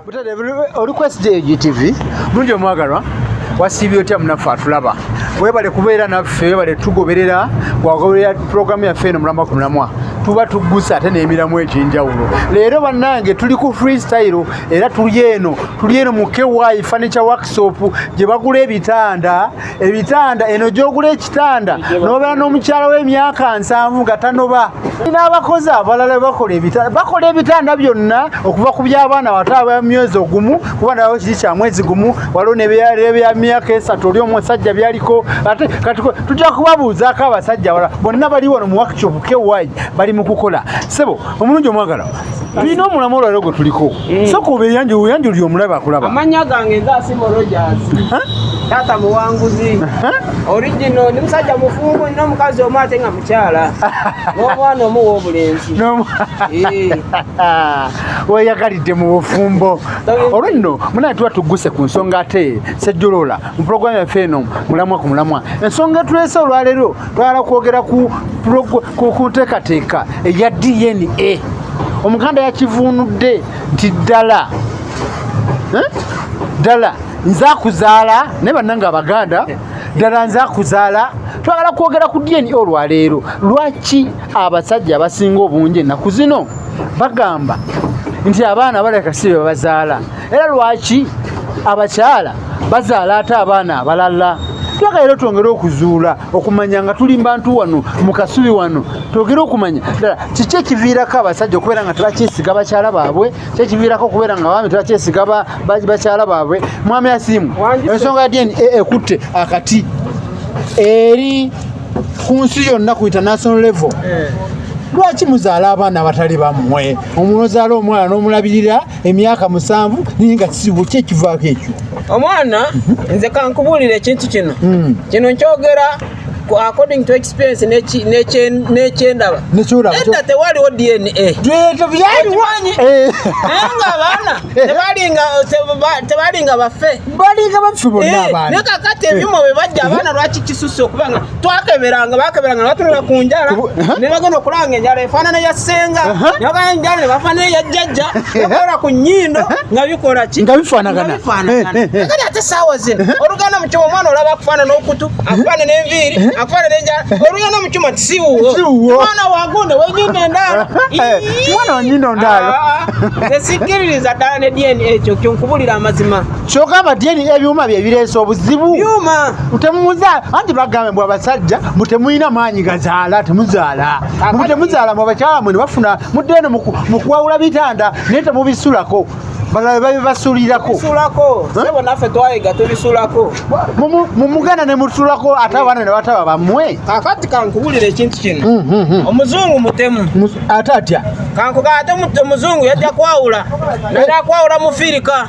butade oli ku sdgtv bulungi omwagalwa wasiibye otya munaffe atulaba webale kubeera naffe webale tugoberera wagoberera pulogulaamu yaffe eno mulamwa ku mulamwa tuba tuggusa ate n'emiramu egy'enjawulo leero bannange tuli ku freestyle era tuli eno tuli eno mu ky furniture workshop gye bagula ebitanda ebitanda eno gyogula ekitanda nobeera n'omukyala w'emyaka nsanvu nga tanoba n'abakozi abalala bakola ebitanda bakola ebitanda byonna okuva ku by'abaana wata aba myezi ogumu kuba nawo kiri kya mwezi gumu waliwo nebya myaka esatu oli omusajja byaliko ate kati tujja kubabuuzaako abasajja wala bonna bali wano mu workshop ky bali mu kukola sebo omulungi omwagala tulina omulamu olwaliro gwe tuliko eh. soka obeyanjula oyanjulira omulabe akulaba amanya gange nze asimo rogers taata muwanguzi origino ndi musajja mufumbo nina omukazi omu ate nga mukyala n'omwana omu w'obulenzi eh. weyagalidde mu bufumbo olwo nno munaye tuba tugguse ku nsonga ate sejjolola mu pulogulaamu yaffe eno mulamwa ku mulamwa ensonga etuleese olwaleero twala kwogera ku nteekateeka eya dna omuganda yakivunudde nti ddala eh? ddala nze akuzaala naye bannange abaganda ddala nze akuzaala twagala kwogera ku dna olwaleero lwaki abasajja abasinga obungi ennaku zino bagamba nti abaana baleka si bebazaala era lwaki abakyala bazaala ate abaana abalala twagala era twongere okuzuula okumanya nga tuli mbantu wano mu kasubi wano twogere okumanya ddala kiki ekiviirako abasajja okubeera nga tebakyesiga bakyala baabwe ki ekiviirako okubeera nga abaami tebakyesiga bakyala baabwe mwami asiimu ensonga dn e, ekutte akati eri ku nsi yonna ku international level eh. lwaki muzaala abaana abatali bammwe omuntu ozaala omwana n'omulabirira emyaka musanvu naye nga kisibu ki ekivaako ekyo omwana nze kankubuulira ekintu kino hmm. kino nkyogera according to experience nekyendaba edda tewaliwo dna byaliwanyi eh. naye nga abaana tebalinga bafe balinga bafe bonna eh, abaana naye kakati ebyuma bwe bajja abaana lwaki kisusse okubanga twakeberanga bakeberanga nebatunula ku njala nebagenda okulanga enjala efaanana ya ssenga nebagala enjala nebafaanana eya jjajja bakola ku nnyindo nga bikola ki nga bifaanagana kati ate saawa zino oluganda mu kyuma omwana olaba akufaanana okutu akufaanana enviiri akufaanana enjala oluganda mu kyuma tisiwuwo mwana wagunde wenyindo endaalo mwana wenyindo ndaalo ah, ah, ah. esikkiririza ddala ne dna ekyo kyonkubulira amazima kyoka abadyeni ebyuma bye bireese obuzibu byuma temuzaala anti bagambe bwe abasajja mbu temulina maanyi gazaala temuzaala mbu temuzaala mu abakyala mwe ne bafuna mudde eno mu kuwawula bitanda naye temubisulako balala babibasulirako naffe twayiga tubisulako mumuganda ne mutulako ate abaana ne bataba bamwe kakati kankubulira ekintu kino mm, mm, mm. omuzungu mutemu ate atya kankuga ate omuzungu yajja kwawula naye akwawula mufirika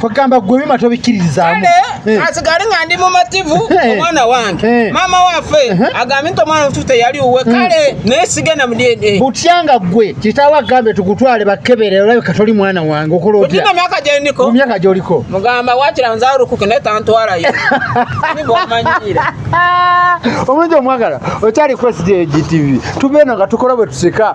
kwegamba gwe bima tobikkiririzaamu eh. asigale nga ndi mumativu eh. omwana wange eh. maama waffe agambye nti omwana mutufu teyali uwe hmm. kale naye sigenda mu dna butya nga gwe kitaawo agambe tukutwale bakebere olabika toli mwana wange okola otya mu myaka gyendiko mu myaka gyoliko mugamba wakira nze alukuke naye tantwalayo nibwomanyiira omulungi omwagala okyali kwesi gyegitivi tubeeno nga tukola bwe tusika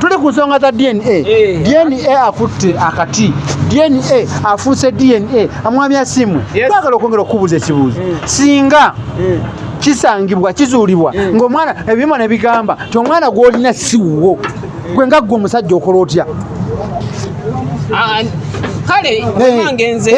tuli ku nsonga za dna eh. dna akutte akati dna afuuse dna amwami asimwe twagala okwongera okukubuuza ekibuuzo eh. singa eh. kisangibwa kizuulibwa ng'omwana ebyuma ne bigamba ti omwana gw'olina siwuwo gwe nga ggwe omusajja okola otya ah, kale omange nze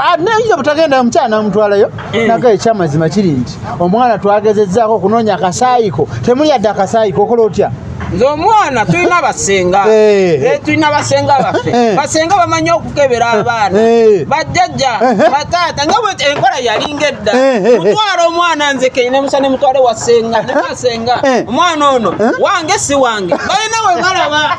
ah, naye obutagenda omukyala namutwalayo Eh. naga ekyamazima kiri nti omwana twagezezzaako okunoonya akasaayiko temuli yadde akasaayiko okola otya nze omwana tulina basenga eh. Eh, tulina basenga baffe basenga bamanyi okukebera abaana bajjajja bataata nga bwe enkola yalinga edda mutwala omwana nze keine musa ne mutwale wasenga ne basenga omwana ono wange si wange balina we balaba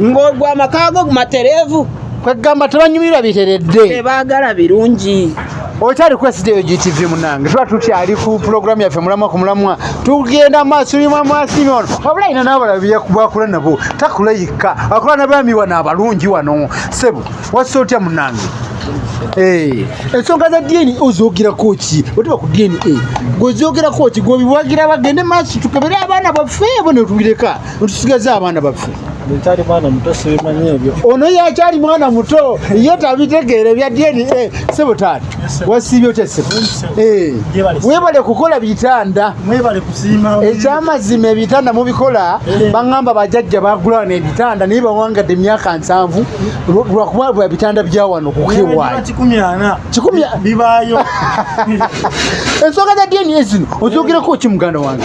ng'ogwa amaka go matereevu kwegamba tebanyumirwa biteredde baagala birungi okyali kwesida eyo gtv munange tuba tukyali ku pulogulaamu yaffe mulamwa ku mulamwa tugenda maaso yuma mwasimi ono wabula ina nabalabakula nabo takula yikka akula nabaami wano abalungi wano sebo wasa otya munange eh, ensonga za dna ozogerako ki otuba ku dna gwezogerako ki gwebiwagira bagende maaso tukebere abaana baffe abo netubireka tusigaze abaana baffe nkyali mwana muto sibimanyi ebyo ono yakyali mwana muto ye tabitegeera ebya dna sebo taata wasiibye otya sebo eh, webale kukola bitanda ekyamazima ebitanda mubikola eh. baŋamba bajajja bagulawo nebitanda naye bawangadde emyaka nsanvu lwakuba bwa bitanda byawano kukewayo ensonga za dna zino ozogerako ki muganda wange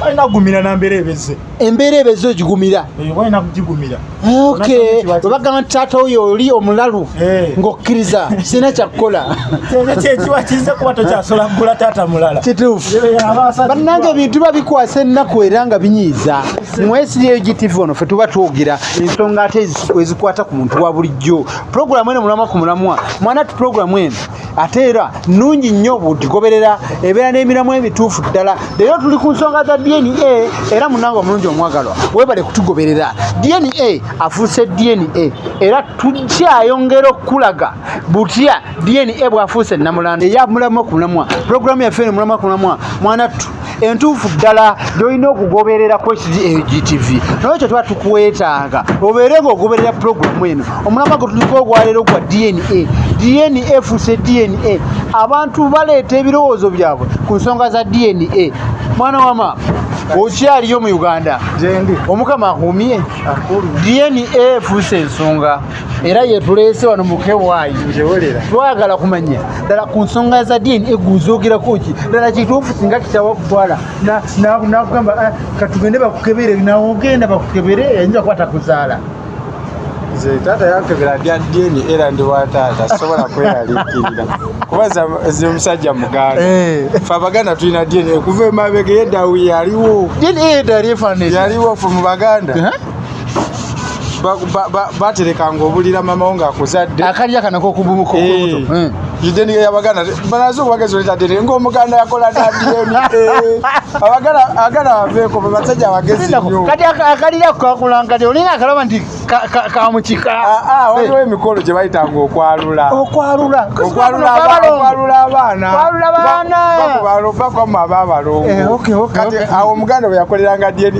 balina kugumira na mbeera ebeze embeera ebeze ogigumira eh, balina kugigumira eh, okay webagamba nti taata oyo oli omulalu eh. ng'okkiriza sirina kyakukola kyekiwa kize kuba tokyasobola kugula taata mulala kituufu bannanga ebintu biba bikwasa ennaku era nga binyiiza mwesiryeyo gtv ono fe tuba twogera ensonga ate ezikwata ku muntu wa bulijjo pulogulamu eno mulamwa ku mulamwa mwana ti pulogulamu eno ate era nnungi nnyo butigoberera ebeera n'emiramu emituufu ddala leero tuli ku nsonga za dna era munange omulungi omwagalwa webale kutugoberera dna afuuse dna era tukyayongera okukulaga butya dna bwafuuse namulanda eyamulamwa ku mulamwa pulogulaamu yaffe eno mulamwa ku mulamwa mwanattu entuufu ddala gyolina okugoberera ku hgtv naye ekyo tuba tukwetaaga obeere nga ogoberera pulogulamu eno omulama gwe tuliko ogwaleero gwa dna dna efuuse dna abantu baleeta ebirowoozo byabwe ku nsonga za dna mwana wama okyaliyo mu uganda omukama akumye dna efuuse ensonga era yetuleese wano mukewaayi twagala kumanya ddala ku nsonga za diini eguzogerako ki ddala kituufu singa kitawa kutwala nakugamba ah, katugende bakukebere nawogenda bakukebere ayinza kuba takuzaala nze taata yankebera bya dini era ndi wa taata sisobola kweraliikirira kuba zi omusajja muganda eh. fe abaganda tulina dini okuva emabega yeddawi yaliwo dini yedda yaliwo fe mu baganda eh? baterekanga obulira mama wo ng'akuzadde akalya kana kokububuka okubuto eh. eh. ideni yabaganda banaze obwagezi oleta deni ng'omuganda yakola dadiyeni eh. abagala agala baveeko bebasajja abagezi nyo kati akalira kakulangati olina akalaba nti kamukika ah, ah, waliwo emikolo gye bayitanga okwalula okwalula okwalula abaana okwalula abaana bakoma abaabalongo kati awo omuganda bwe yakoleranga diyeni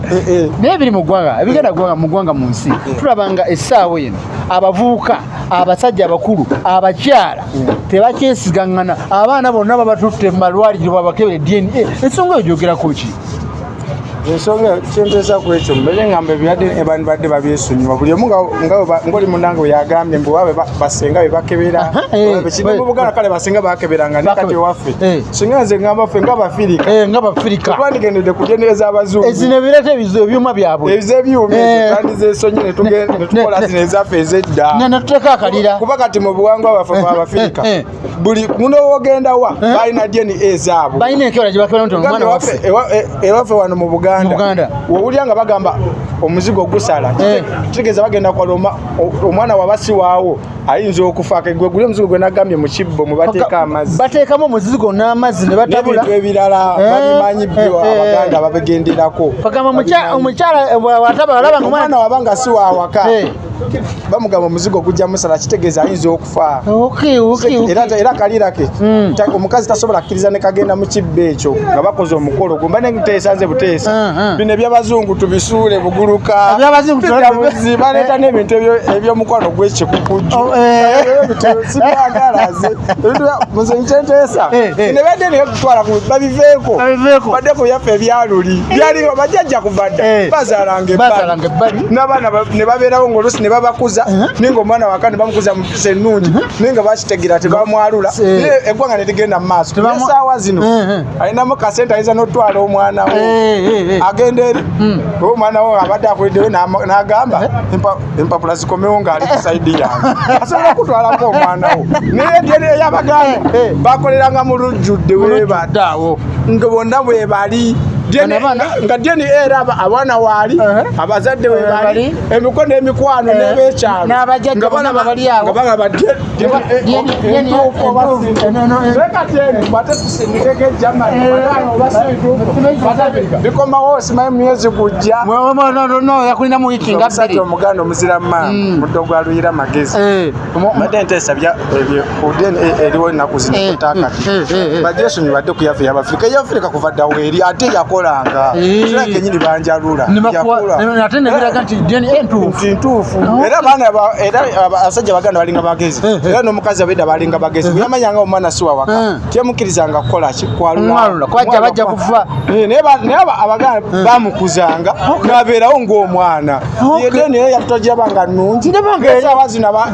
eh, eh. naye biri mu ggwanga ebigenda ggwanga mu ggwanga mu nsi eh. tulaba nga essaawa eno abavubuka abasajja abakulu abakyala tebakyesigaŋŋana abaana bonna babatutte mu malwaliro babakebere dna ensonga eyo gyogerako ki ensonga kyempeesa ku ekyo mbere ngamba ebirwadde abantu badde babyesonyiwa buli omu ngaoli munange weyagambye mbu wabe basenga bebakebera eh, eh, mu buganda kale basenga bakeberanga nekati ewaffe eh. singa nze ngamba ffe nga bafirika eh, nga bafirika twandigendedde kugendereza abazungu ezino ebireeta ebyuma byabwe ebize ebyuma eh. tandizesonyi netukola zino ezaffe ezedda netuteeka akalira kuba kati mu buwangwa baffe eh, bwabafirika buli muno wogenda wa balina dna ezaabwe balina enkeola gyebakebaomwana waffe ewaffe wano mu buganda wowulira nga bagamba omuzigo gusala kitegeeza bagenda kwala omwana wabasiwaawo ayinza okufa gwe guli omuzigo gwe nagambye mu kibbo mwe bateeka amazzi bateekamu omuzigo n'amazzi ne batabula n'ebintu ebirala eh, babimanyi eh, byo eh. abaganda babigenderako bagamba omukyala wataba alaba nga omwana waba nga si wawaka bamugamba omuzigo gujja musala kitegeeza ayinza okufa era kaliirake hmm. omukazi tasobola kiriza ne kagenda mu kibba ekyo nga bakoze omukolo gumba ne nteesanze buteesa ah, ah. bino ebyabazungu tubisuule buguluka ebyabazunguzi baleeta n'ebintu ebyomukwano gwekikukujju oh, eh. sibyagalaze nze nkyenteesa eh, eh. ne badde naye kutwala babiveeko badde ku byaffe ebyaluli byaliwo bajajja kuva dda bazaalanga ebbali n'abaana ne babeerawo ng'oluusi ne babakuza ninga omwana wakane bamukuza mu ennungi mhm. naye nga bakitegera tebamwalula eh. eggwanga ne ligenda mu maaso esaawa zino eh, eh. alinamu kasente ayinza n'otwala omwana we agenda eri hmm. oba omwana we abadde akulideyo n'agamba empapula zikomewo ng'ali ku saidi yange asobola okutwalako omwana wo naye eyabaganda bakoleranga mu lujjudde webataawo nga bonna bwebali nga dna era abaana waali abazadde webali emiko n'emikwano eh, n'ebekyalo n'abajajja bona nga bali awo nga bagamba bikomawo simaye mumyezi gujja yakulina mu wiiki nga bbiri omuganda omuzira maama mm. muddo gwa luyira magezi eh. mbadde nteesa eriwo enaku zino eh, takati eh, eh, bajesonyi badde ku yafe yabafirika eyafirika kuva ddawo eri ate yakolanga kira kenyini banjalula ate nebiraga nti dna ntuufu ntuufu oh. era abaana era abasajja baganda balinga bagezi era n'omukazi abeda balinga bagezi buyamanyanga omwana siwawaka temukirizanga kukola ki kwalula kwaja bajja kufa naye abaganda bamukuzanga nabeerawo ng'omwana yedeni era yatutagyabanga nungi esawa zino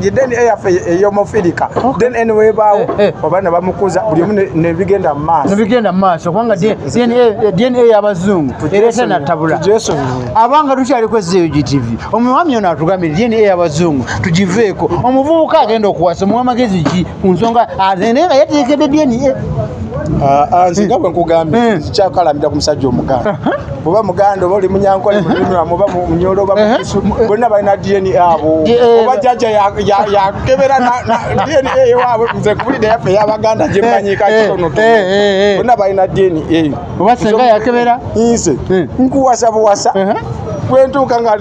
then eyafe eh, eh, eyomufirika eh, then anyway bawo oba ne bamukuza buli omu ne bigenda mu maaso ne bigenda mu maaso kubanga dna y'abazungu ereeta natabula jesu abanga tukyali kwezza eyo gtv omwami ono atugambire dna y'abazungu tugiveeko omuvubuka agenda okuwasa omuwa magezi ki ku nsonga azende nga yateekedde dna ah, ah, nze nga bwe nkugambye kyakalamira ku musajja omuganda oba muganda oba oli munyankole mulimirwamu oba munyolo oba bonna balina dna abo oba jaja yakebera dna ewaabwe nze kubulidde yaffe eyabaganda gyemmanyi kakitono bonna balina dna oba senga yakebera nze nkuwasa buwasa bwentuuka nga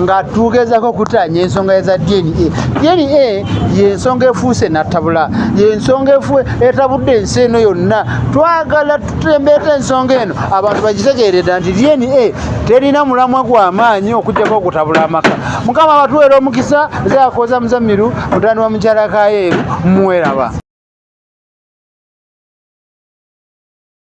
nga tugezako okutaanya ensonga eza dna dna yensonga efuuse natabula yensonga efu etabudde ensi eno yonna twagala tutembeeta ensonga eno abantu bagitegeereda nti dna terina mulamwa gwamaanyi okujjako okutabula amaka mukama abatuweera omukisa zakoza muzamiru mutani wa mukyalakayeeru muweraba